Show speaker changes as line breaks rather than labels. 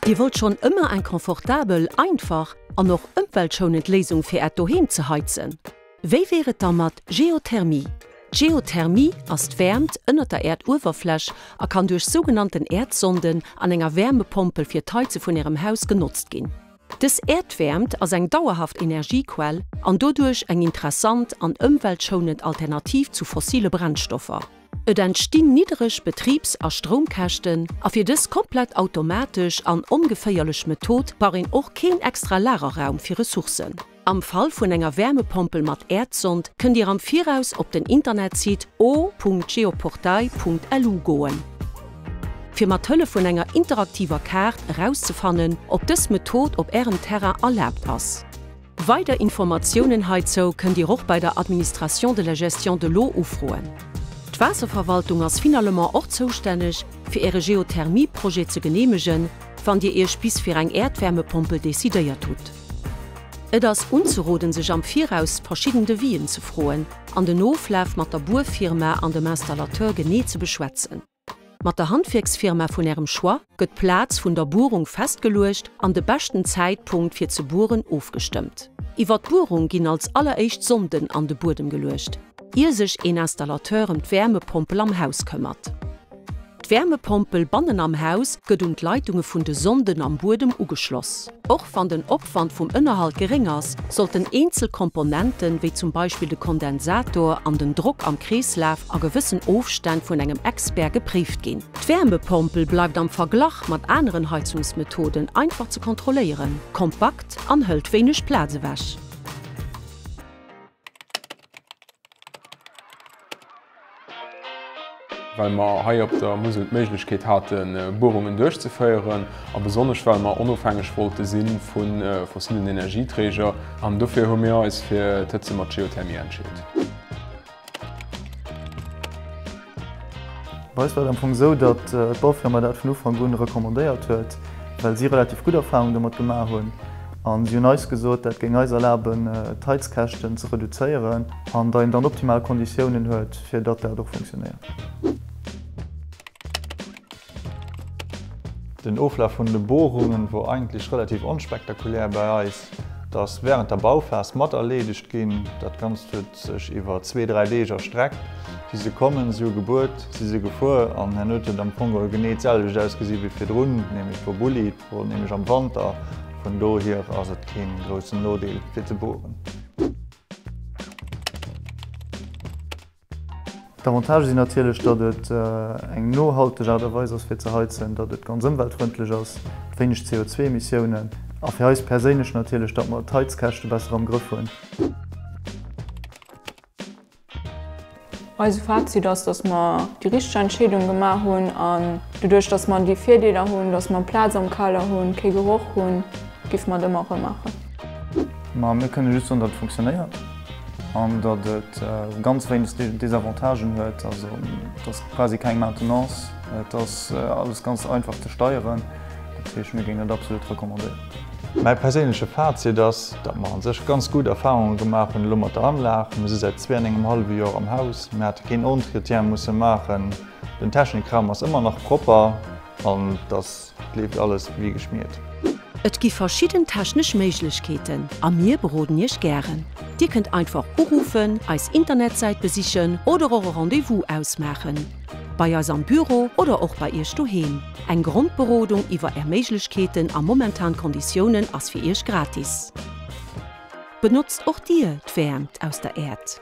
Dir wollt schonn ëmmer eng confortabel, einfach an och ëmweltschounend Léisung fir Äert Doheem ze heizen? Wéi wier et da mat Geothermie? D'Geothermie ass d'Wäermt ënnert der Äerduewerfläch a kann duerch sougenannten Äerdsonden an enger Wäermepompel fir d'Heize vun Ärem Haus genotzt ginn. Dës Äerdwäermt ass eng dauerhaft Energiequell an doduerch eng interessant an ëmweltschounend Alternativ zu fossile Brennstoffer. Et entstinn niddereg Betribs a Stroumkäschten a fir dës komplett automatesch an ongeféierlech Method brauch een och keen extra Lagerraum fir Ressourcen. Am Fall vun enger Wärmepompel mat Äerdsond kënnt Dir am Viraus op den Internetsite o.geoportail.lu goen, fir mat Hëllef vun enger interaktiver Kaart erauszefannen, ob dës Method op Ärem Terrain erlaabt ass. Weider Informatiounen heizou kënnt Dir och bei der Administration de la gestion de l'eau ufroen. D'Waasserverwaltung ass finalement och zoustänneg, fir Äre Geothermie-Projet ze geneemegen, wann Dir Iech bis fir eng Äerdwärmepompel decidéiert hutt. Et ass unzeroden sech am Viraus verschidden Devis'en ze froen an den Oflaf mat der Buerfirma an dem Installateur genee ze beschwätzen. Mat der Handwierksfirma vun Ärem Choix gëtt d'Plaz vun der Buerung festgeluecht an de beschten Zäitpunkt fir ze bueren ofgestëmmt. Iwwer d'Buerung ginn als alleréischt Sonden an de Buedem geluecht, ier sech een Installateur em d'Wäermepompel am Haus këmmert. D'Wäermepompel bannen am Haus gëtt un d'Leitunge vun de Sonden am Buedem ugeschloss. Och wann den Opwand vum Ënnerhalt geréng ass, sollten eenzel Komponenten, wéi zum Beispill de Kondensator an den Drock am Kreeslaf, a gewëssen Ofstänn vun engem Expert gepréift ginn. D'Wäermepompel bleift am Verglach mat aneren Heizungsmethoden einfach ze kontrolléieren, kompakt an hëlt wéineg Plaz ewech.
Well mer hei op der Musel d'Méiglechkeet haten, Buerungen duerchzeféieren a besonnesch well mer onofhängeg wollte si vu fossillen Energieträger. An dofir hu mir eis fir d'Hëtze mat Geothermie entscheet.
Bei eis war et am Fong esou, datt d'Baufirma dat vun Ufank un recommandéiert huet, well si relativ gutt Erfarung domat gemaach hunn. A si hunn eis gesot, dat géing eis erlaben, d'Heizkäschten ze reduzéieren an datt een dann optimal Konditiounen huet, fir datt dat och funktionéiert. Den Oflaf vun de Bohrungen wor eigentlech relativ onspektakulär bei eis. Et ass während der Bauphase mat erleedegt ginn. Dat Ganzt huet sech iwwer zwee, dräi Deeg erstreckt. Si se kommen, si hu gebuert, si se gefuer an herno huet et am Fong geholl genee d'selwecht ausgesi wéi virdrun, nämlech verbullied. Et wor nämlech am Wanter. Vun dohier ass et keen groussen Nodeel fir ze bohren. D'Avantagë sinn natierlech, datt et eng nohalteg Aart a Weis ass fir ze heizen, datt et ganz ëmweltfrëndlech ass, wéineg CO2-Emissiounen a fir eis perséinlech natierlech, datt mer d'Heizkäschte besser am Grëff hunn.
Eise Fazit ass, datt mer déi richteg Entscheedung gemaach hunn an doduerch, datt mer déi Virdeeler hunn, datt mer Plaz am Kader hunn, kee Geroch hunn, giff mer et ëmmer erëm maachen. Ma
mir kënne just soen, datt et funktionéiert. an datt et ganz wéineg Désavantagen huet, also et ass quasi keng Maintenance, et ass alles ganz einfach ze steieren, dat heescht mir géingen et absolut recommandéieren. Mäi perséinleche Fazit ass, datt mer a sech ganz gutt Erfarunge gemaach hunn elo mat der Anlag. Mir si säit zwee an engem hallwe Joer am Haus, mir hate keen Entretien musse maachen, den Technikraum ass ëmmer nach propper an et ass Et leeft alles wéi geschmiert. Et gi
verschidden technesch Méiglechkeeten a mir beroden Iech gären. Dir kënnt einfach uruffen, eis Internetsäit besichen oder och e Rendez-vous ausmaachen, bei eis am Büro oder och bei Iech doheem. Eng Grondberodung iwwer Är Méiglechkeeten a momentan Konditiounen ass fir Iech gratis. Benotzt och Dir d'Wäermt aus der Äerd?